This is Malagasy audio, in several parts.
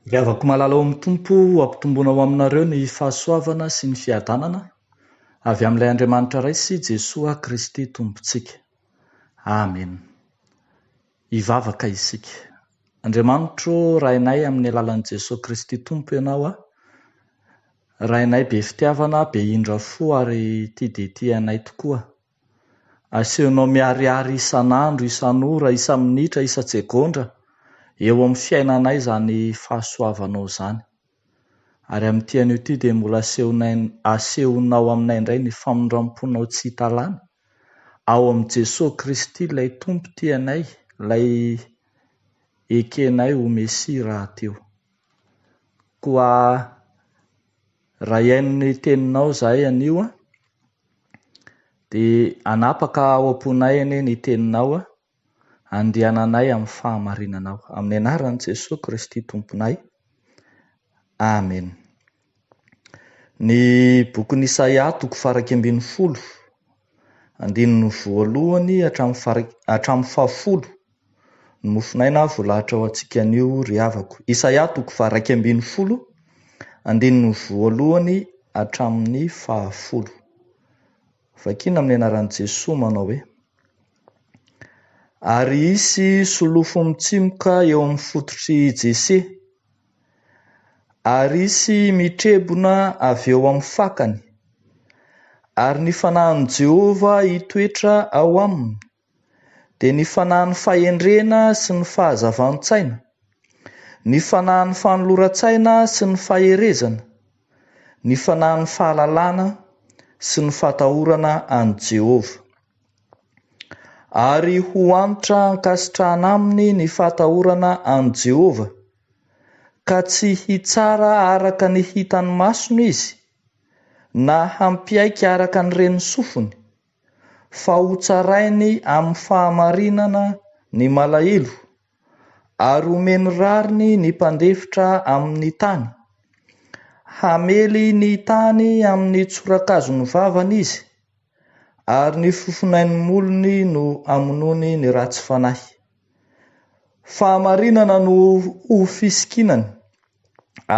Ry havako malala ao amin'ny Tompo o, hampitomboina ho aminareo ny fahasoavana sy ny fiadanana avy amin'ilay Andriamanitra Ray sy Jesoa Kristy Tompontsika. Amen. Hivavaka isika. Andriamanitro ô, Rainay amin'ny alalan'i Jesoa Kristy Tompo Ianao a, Rainay be fitiavana, be indra fo ary tia dia tia anay tokoa. Asehonao miharihary isan'andro, isan'ora, isa-minitra, isa-tsegondra eo amin'ny fiainanay izany fahasoavanao izany. Ary amin'ity anio ity dia mbola asehonay, asehonao aminay indray ny famindram-ponao tsy hita lany, ao amin'i Jesoa Kristy ilay Tompo tianay, ilay ekenay ho Mesia rahateo. Koa. Raha hihaino ny teninao zahay anio an, dia hanapaka ao am-ponay anie ny teninao an, andehananay amin'ny fahamarinanao. Amin'ny anaran'i Jesoa Kristy Tomponay. Amen. Ny bokin'i Isaia toko farak'ambin'ny folo Andininy voalohany hatramin'ny fahafolo, Ny mofonaina voalahatra ho antsika anio ry havako. Isaia toko faha iraika ambin'ny folo, andininy voalohany hatramin'ny fahafolo. Vakina amin'ny anaran'i Jesoa manao hoe, Ary hisy solofo mitsimoka eo amin'ny fototry Jese. Ary hisy mitrebona avy eo amin'ny fakany, ary ny fanahin'i Jehovah hitoetra ao aminy, dia ny fanahin'ny fahendrena sy ny fahazavan-tsaina, ny fanahin'ny fanoloran-tsaina sy ny faherezana, ny fanahin'ny fahalalana sy ny fatahorana an'i Jehovah. Ary ho antra ankasitrahana aminy ny fahatahorana an'i Jehovah, ka tsy hitsara araka ny hitan'ny masony izy, na hampiaiky araka ny ren'ny sofiny, fa hotsarainy amin'ny fahamarinana ny malahelo, ary homeny rariny ny mpandefitra amin' ny tany. Hamely ny tany amin' ny tsorakazon' ny vavany izy, ary ny fofonain' ny molony no hamonoany ny ratsy fanahy. Fahamarinana no ho fisikinany,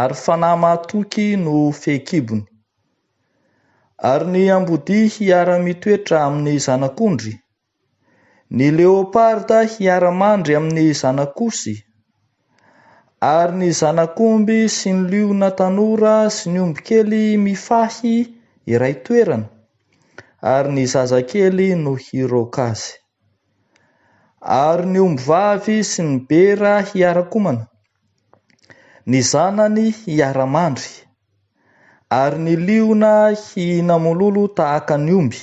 ary fanahy mahatoky no fehikibony. Ary ny ambodia hiara-mitoetra amin' ny zanak' ondry, Ny leoparda hiara-mandry amin' ny zanak'osy, ary ny zanak'omby sy ny liona tanora sy ny ombikely mifahy iray toerana, ary ny zazakely no hiroaka azy. Ary ny ombivavy sy ny bera hiara-komana, ny zanany hiara-mandry, ary ny liona hihina mololo tahaka ny omby.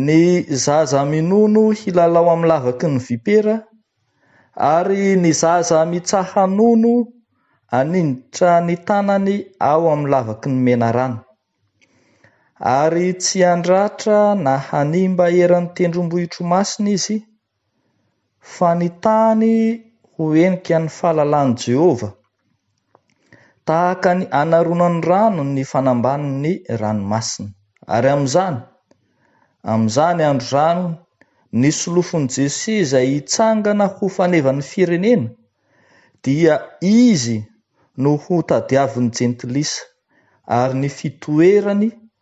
Ny zaza minono hilalao amin'ny lavaky ny vipera ary ny zaza mitsaha-nono hanindritra ny tanany ao amin'ny lavaky ny menarana, ary tsy handratra na hanimba eran'ny tendrombohitr'Imasina izy, Fa ny tany ho henika ny fahalalan'i Jehovah, tahaka ny anaronan'ny rano ny fanambanin'ny ranomasina. Ary amin'izany, amin'izany andro izany, ny solofon'i Jesosy izay hitsangana ho fanevan'ny firenena, dia izy no hotadiavin'ny Jentilisa, ary ny fitoerany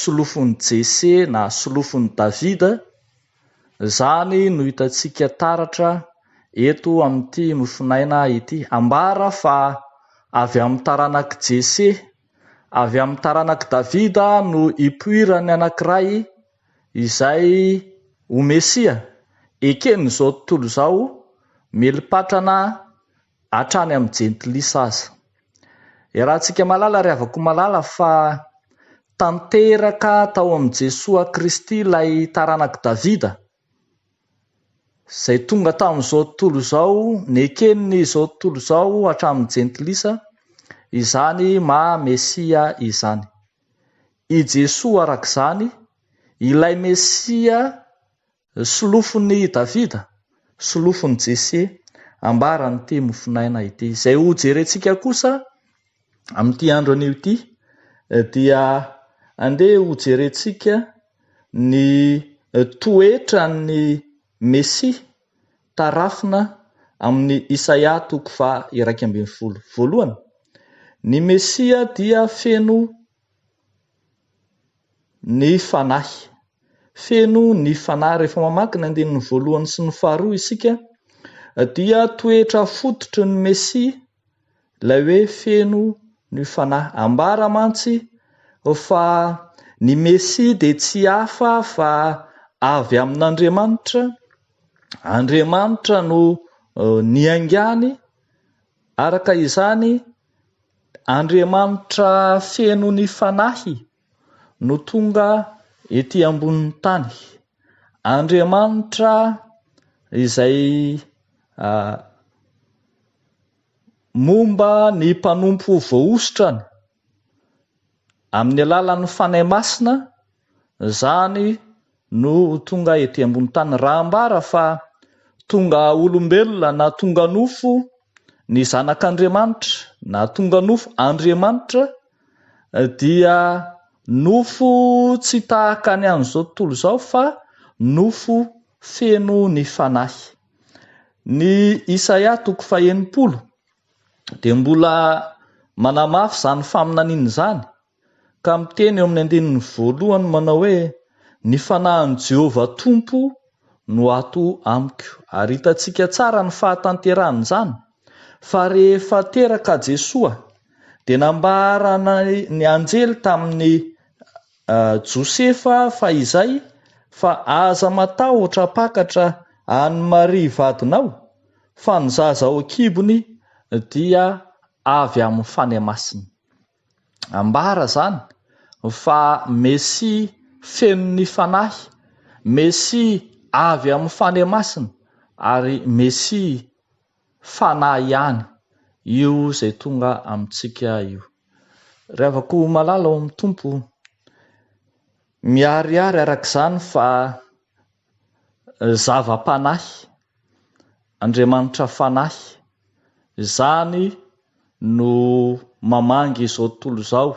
solofon'i Jese na solofon'i Davida, izany no hitantsika taratra eto amin'ity mofonaina ity. Ambara fa avy amin'ny taranak'i Jese, avy amin'ny taranak'i Davida no hipoiran'ny anankiray izay ho Mesia, eken'izao tontolo izao, meli-patrana Hatrany amin'ny jentilisa aza. Iarahantsika malala ry havako malala fa tanteraka tao amin'i Jesoa Kristy ilay taranak'i Davida izay tonga tamin'izao tontolo izao, neken'izao tontolo izao hatramin'ny jentilisa izany maha Mesia izany. I Jesoa araka izany, ilay Mesia Solofon'i Davida, solofon'i Jese, ambaran'ity mofonaina ity. Izay ho jerentsika kosa amin'ity andro anio ity dia andeha ho jerentsika ny toetran'ny Mesia tarafina amin'i Isaia toko faha iraika ambin'ny folo voalohany. Ny Mesia dia feno. Ny Fanahy. Feno ny Fanahy. Rehefa mamaky ny andininy voalohany sy ny faharoa isika dia toetra fototry ny Mesia ilay hoe feno ny Fanahy. Ambara mantsy fa ny Mesia dia tsy hafa fa avy amin'Andriamanitra, Andriamanitra no niaingàny, araka izany, Andriamanitra feno ny Fanahy no tonga ety ambonin'ny tany. Andriamanitra izay momba ny mpanompo voahosotrany amin'ny alalan'ny Fanahy Masina izany no tonga ety ambony tany. Raha ambara fa tonga olombelona na tonga nofo ny Zanak'Andriamanitra na tonga nofo Andriamanitra dia nofo tsy tahaka ny an'izao tontolo izao fa nofo feno ny Fanahy. Ny Isaia toko fahenimpolo dia mbola manamafy izany faminaniana izany. ka miteny eo amin'ny andininy voalohany manao hoe, Ny fanahin'i Jehovah Tompo no ato amiko. Ary hitantsika tsara ny fahatanterahan'izany, fa rehefa teraka Jesoa, dia nambaran' ny anjely tamin'i Josefa fahizay fa, Aza matahotra hampakatra an'i Maria vadinao, fa ny zaza ao an-kibony dia avy amin'ny Fanahy Masina. ambara izany fa Mesia feno ny Fanahy, Mesia avy amin'ny Fanahy Masina ary Mesia Fanahy ihany io izay tonga amintsika io. Ry havako malala ao amin'ny Tompo, miharihary araka izany fa Zava-panahy, Andriamanitra Fanahy, izany no mamangy izao tontolo izao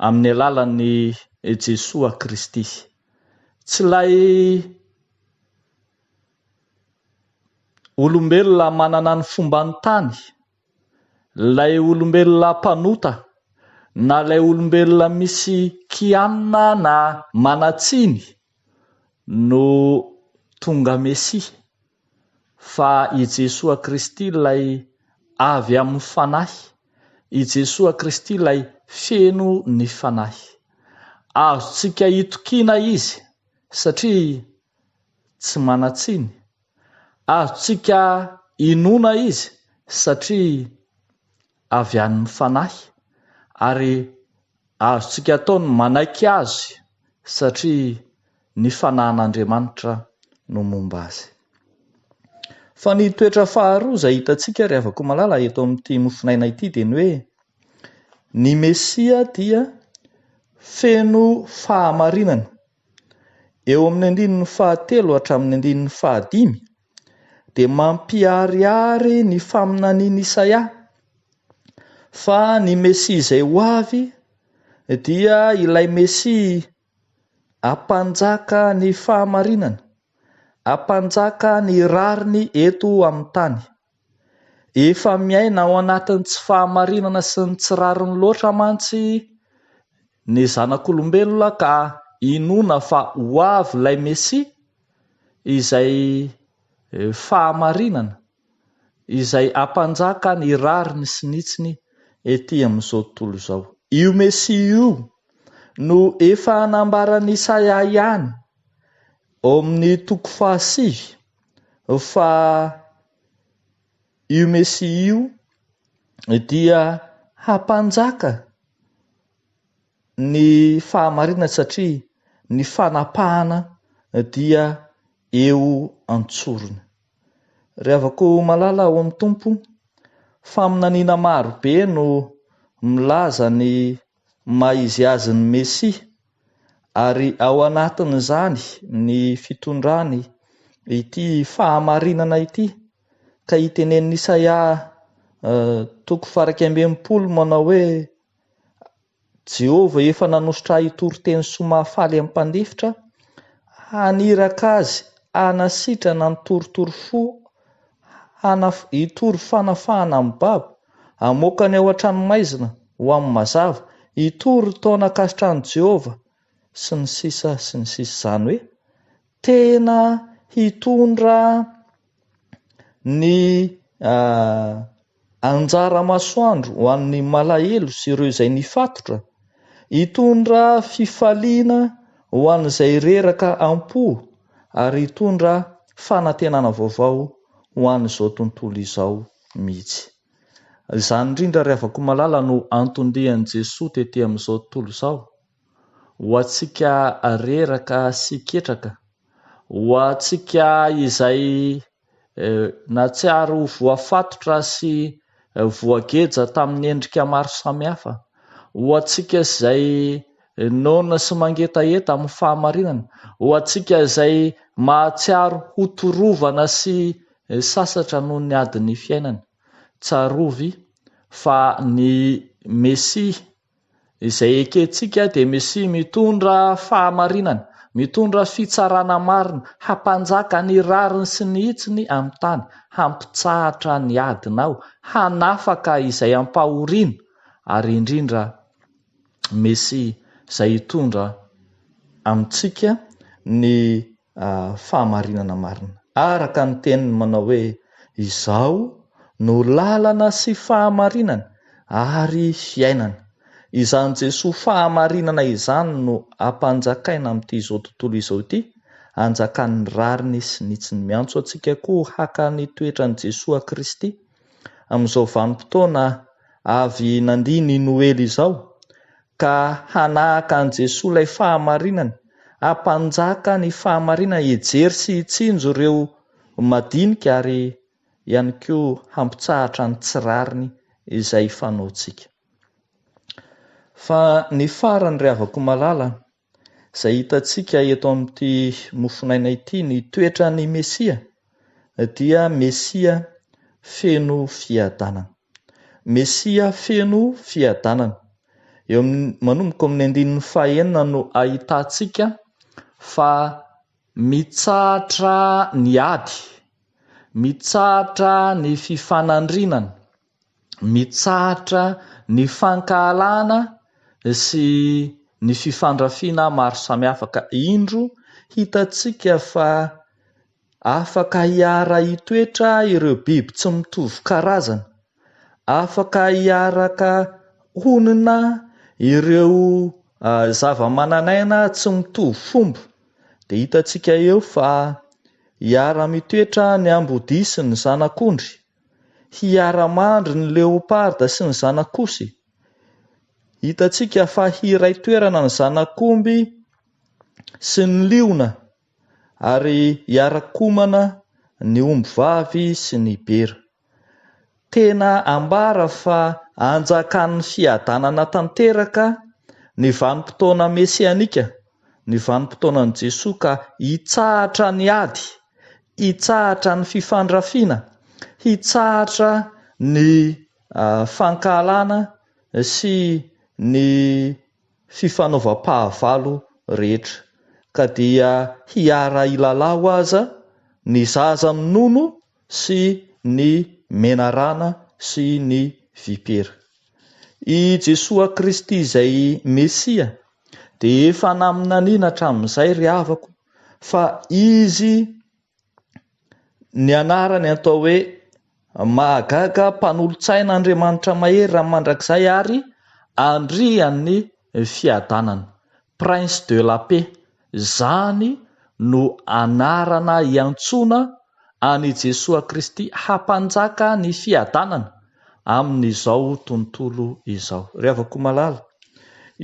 amin'ny alalan'i Jesoa Kristy. Tsy ilay olombelona manana ny fomban'ny tany Ilay olombelona mpanota, na ilay olombelona misy kianina na manan-tsiny no tonga Mesia, fa i Jesoa Kristy ilay avy amin'ny Fanahy, i Jesoa Kristy ilay feno ny Fanahy. Azontsika itokiana Izy, satria tsy manan-tsiny. Azontsika inoana Izy satria avy any amin'ny Fanahy, ary azontsika atao ny manaiky Azy satria ny Fanahin'Andriamanitra no momba Azy. Fa ny toetra faharoa izay hitantsika ry havako malala eto amin'ity mofon'aina ity dia ny hoe ny Mesia dia feno fahamarinana Eo amin'ny andininy fahatelo hatramin'ny andininy fahadimy dia mampiharihary ny faminanian'i Isaia fa ny Mesia izay ho avy dia ilay Mesia hampanjaka ny fahamarinana, hampanjaka ny rariny eto amin'ny tany. Efa miaina ao anatin'ny tsy fahamarinana sy ny tsy rariny loatra mantsy ny zanak'olombelona ka inoana fa ho avy ilay Mesia izay fahamarinana izay hampanjaka ny rariny sy ny hitsiny ety amin'izao tontolo izao. Io Mesia io no efa nambaran'i Isaia ihany ao amin'ny toko fahasivy. fa io Mesia io dia hampanjaka ny fahamarinana satria ny fanapahana dia eo an-tsorony. Rehavako malala ao amin'ny Tompo, faminaniana maro be no milaza ny maha izy azy ny Mesia, ary ao anatin'izany ny fitondrany ity fahamarinana ity, ka itenenin'i Isaia toko faha iraika amby enimpolo manao hoe, Jehovah efa nanosotra ahy hitory teny soa mahafaly amin'ny mpandefitra, haniraka azy hanasitrana ny torotoro fo Hanaf, hitory fanafahana amin'ny babo, hamoaka ny ao an-tranomaizina ho amin'ny mazava, hitory ny taona ankasitran'i Jehovah, sy ny sisa sy ny sisa Izany hoe, tena hitondra ny Anjara masoandro ho an'ny malahelo sy ireo izay nifatotra, hitondra fifaliana ho an'izay reraka am-po ary hitondra fanantenana vaovao ho an'izao tontolo izao mihitsy. Izany indrindra ry havako malala no anton-dian'i Jesoa tety amin'izao tontolo izao, ho antsika reraka sy ketraka, ho antsika izay Nahatsiaro ho voafatotra sy voageja tamin'ny endrika maro samihafa. Ho antsika izay noana sy mangetaheta amin'ny fahamarinana, ho antsika izay mahatsiaro ho torovana sy sasatra noho ny adin'ny fiainana, tsarovy fa ny Mesia Izay ekentsika dia Mesia mitondra fahamarinana, mitondra fitsarana marina, hampanjaka ny rariny sy ny hitsiny amin'ny tany, hampitsahatra ny adina aho, hanafaka izay ampahoriana, ary indrindra Mesia izay hitondra amintsika ny fahamarinana marina. Araka ny teniny manao hoe, Izaho no lalana sy fahamarinana ary fiainana. Izany Jesoa fahamarinana izany no ampanjakaina amin'ity izao tontolo izao ity, anjakan'ny rariny sy ny tsy miantso antsika koa haka ny toetran'i Jesoa Kristy amin'izao vanim-potoana avy nandia ny Noely izao, ka hanahaka an'i Jesoa ilay fahamarinany, hampanjaka ny fahamarinana, hijery sy hitsinjo ireo madinika ary ihany koa hampitsahatra ny tsy rariny izay fanaontsika. Fa ny farany ry havako malala, Izay hitantsika eto amin'ity mofonaina ity ny toetran'ny Mesia dia Mesia feno fiadanana. Mesia feno fiadanana. Eo manomboka amin'ny andininy fahenina no ahitantsika fa mitsahatra ny ady, mitsahatra ny fifanandrinana, mitsahatra ny fankahalana sy ny fifandrafiana maro samihafa ka indro hitantsika fa afaka hiara hitoetra ireo biby tsy mitovy karazana, afaka hiaraka honina ireo zavamananaina tsy mitovy fomba dia hitantsika eo fa hiara mitoetra ny ambodia sy ny zanak'ondry. hiara-mandry ny leopards sy ny zanak'osy. Hitantsika fa hiray toerana ny zanak'omby sy ny liona ary hiara-komana ny ombivavy sy ny bera. Tena ambara fa anjakan'ny fiadanana tanteraka ny vanim-potoana mesianika ny vanim-potoanan'i Jesoa ka hitsahatra ny ady, hitsahatra ny fifandrafiana, hitsahatra ny fankahalana sy ny fifanaovam-pahavalo rehetra, ka dia hiara-hilalaho aza ny zaza minono sy ny menarana sy ny vipera. I Jesoa Kristy izay Mesia dia efa naminaniana hatramin'izay ry havako fa Izy ny anarany atao hoe Mahagaga, Mpanolotsaina, Andriamanitra Mahery raha mandrakizay ary Andrian'ny Fiadanana, Prince de la Paix. Izany no anarana iantsoana an' i Jesoa Kristy hampanjaka ny fiadanana amin' izao tontolo izao. Ry havako malala,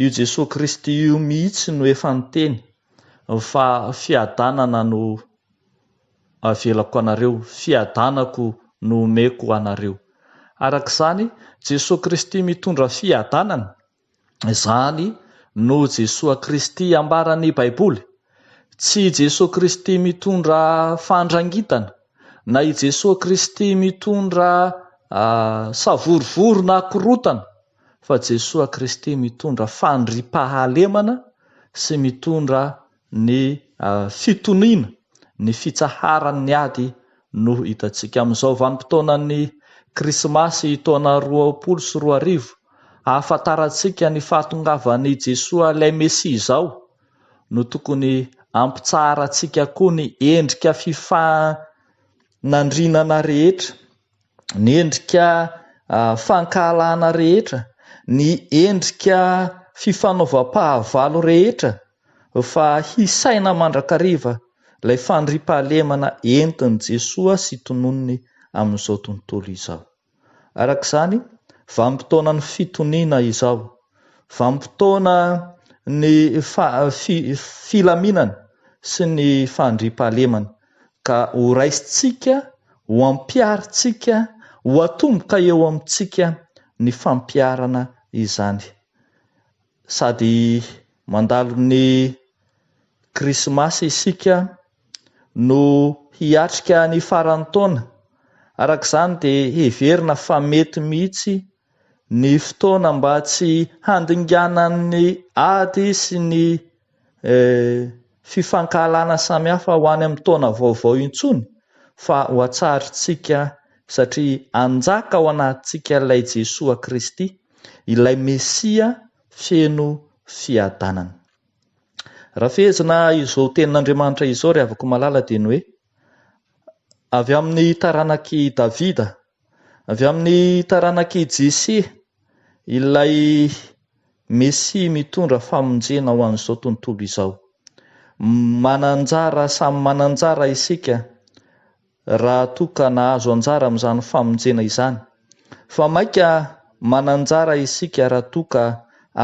io Jesoa Kristy io mihitsy no efa niteny fa fiadanana no avelako anareo, fiadanako no omeko anareo. Araka izany, Jesoa Kristy mitondra fiadanana. Izany no Jesoa Kristy ambaran'ny Baiboly. Tsy i Jesoa Kristy mitondra fandrangitana, na i Jesoa Kristy mitondra savorovoro na korotana, fa Jesoa Kristy mitondra fandriampahalemana sy mitondra Ny fitoniana, ny fitsaharan'ny ady no hitantsika amin'izao vanim-potoanan'ny Krismasy taona roapolo sy roa arivo. Ahafantarantsika ny fahatongavan'i Jesoa ilay Mesia izao no tokony hampitsaharantsika koa ny endrika fifanandrinana rehetra ny endrika fankahalana rehetra, ny endrika fifanaovam-pahavalo rehetra fa hisaina mandrakariva ilay fandriam-pahalemana entin'i Jesoa sy tononiny amin'izao tontolo izao. Araka izany, vanim-potoanan'ny fitoniana izao, vanim-potoana ny filaminana sy ny fandriam-pahalemana. ka ho raisintsika, ho ampiharintsika, ho atomboka eo amintsika ny fampiharana izany. Sady mandalo ny Krismasy isika no hiatrika ny faran'ny taona. Araka izany dia heverina fa mety mihitsy ny fotoana mba tsy handinganan'ny ady sy ny fifankahalana samihafa ho any amin'ny taona vaovao intsony fa ho hatsarintsika satria hanjaka ao anatintsika ilay Jesoa Kristy, ilay Mesia feno fiadanana. Raha fehezina izao tenin'Andriamanitra izao ry havako malala dia ny hoe, avy amin'ny taranak'i Davida, Avy amin'ny taranak'i Jese, ilay Mesia mitondra famonjena ho an'izao tontolo izao. Manan-jara samy manan-jara isika raha toa ka nahazo anjara amin'izany famonjena izany. Fa mainka manan-jara isika raha toa ka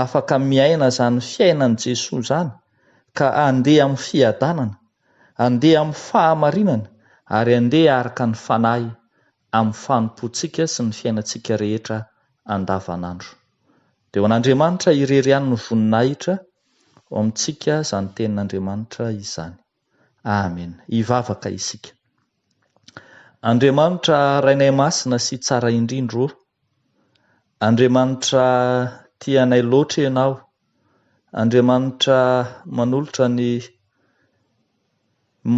afaka miaina izany fiainan'i Jesoa izany ka handeha amin'ny fiadanana. Andeha amin'ny fahamarinana ary andeha araka ny Fanahy amin'ny fanompoantsika sy ny fiainantsika rehetra andavanandro. Dia ho an'Andriamanitra irery ihany ny voninahitra ao amintsika izany Tenin'Andriamanitra izany. Amena. Hivavaka isika. Andriamanitra Rainay Masina sy Tsara Indrindra ô, Andriamanitra tia anay loatra Ianao Andriamanitra manolotra ny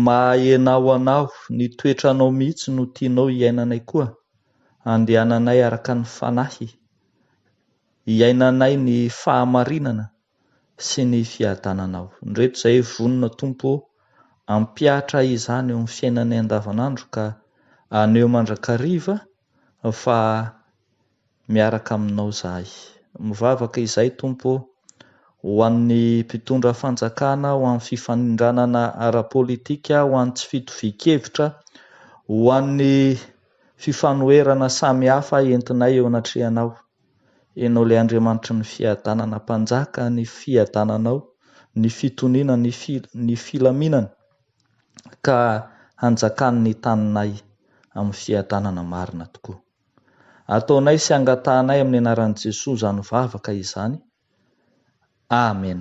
maha-enao anao, ny toetranao mihitsy no tianao hiainanay koa, andehananay araka ny Fanahy, hiainanay ny fahamarinana sy ny fiadananao. Indreto izahay vonona Tompo ô, ampihatra izany eo amin'ny fiainanay andavanandro ka haneho mandrakariva fa miaraka aminao izahay. Mivavaka izay, Tompo ô, ho an'ny mpitondra fanjakana, ho an'ny fifanindranana ara-politika, ho an'ny tsy fitovian-kevitra, ho an'ny fifanoherana samy hafa entinay eo anatrehanao. Ianao ilay Andriamanitry ny fiadanana, Mpanjaka ny fiadananao, ny fitoniana, ny filaminana. ka hanjakan'ny taninay amin'ny fiadanana marina tokoa. Ataonay sy angatahanay amin'ny anaran'i Jesoa izany vavaka izany. Amen.